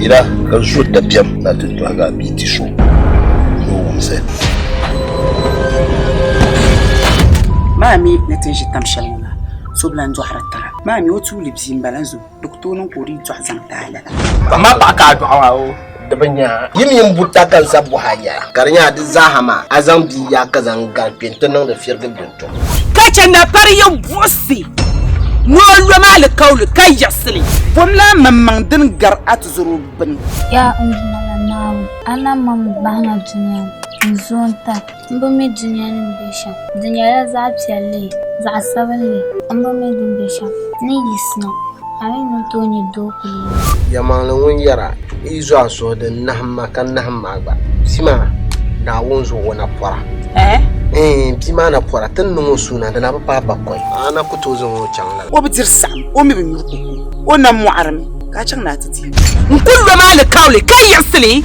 Yina ka zo dabiɛm na ti tɔhigi a bia ti so ni o wumsi. Maa mi ni ti ʒi tam shɛli ŋɔ la, so bi lan dɔhiri tara. Maa mi o tuuli bia m-bala zo di ku tooi niŋ ka o dii dɔɣi zaŋ ti a lala. Zaŋm a paɣa ka a dɔɣi o. di bi nya a. Yi mini buta ka n sa bɔh a yɛla, ka di nya di zaaha maa, a zaŋ bia yaai ka zaŋ gal kpe nti niŋdi firigi bintom. Ka chɛ napari yɛn buɣisi ni o lom alikauli ka yiɣisi li. Bomla a maŋmaŋ din gar a tizɔro gbini. Yaa n Duuma la Naawuni, a na mɔŋmi bahina dunia ni, n zooi n-tali. N bi mi dunia ni bɛ shɛm. Di nyɛla zaɣ piɛlli, zaɣ sabinli. N bi mi din bɛ shɛm. Ni yi sina, a mi ni tooi nyɛ doo kuli yɛli. Yɛlimaŋli ŋun yɛra, N yi zo a suhu din nahim ma ka nahim ma gba, bia maa daa wun zo o napɔra. Ɛɛn, bia maa napɔra ti ni niŋ o suuna di na bi paai bakɔi. A na ku tooi zaŋ o chaŋ lala. O bi diri saɣim, o mi bi nyuri koko. O na mɔɣirimi, ka a chaŋ ni a ti di. N ku lom a alikauli ka yiɣisi li.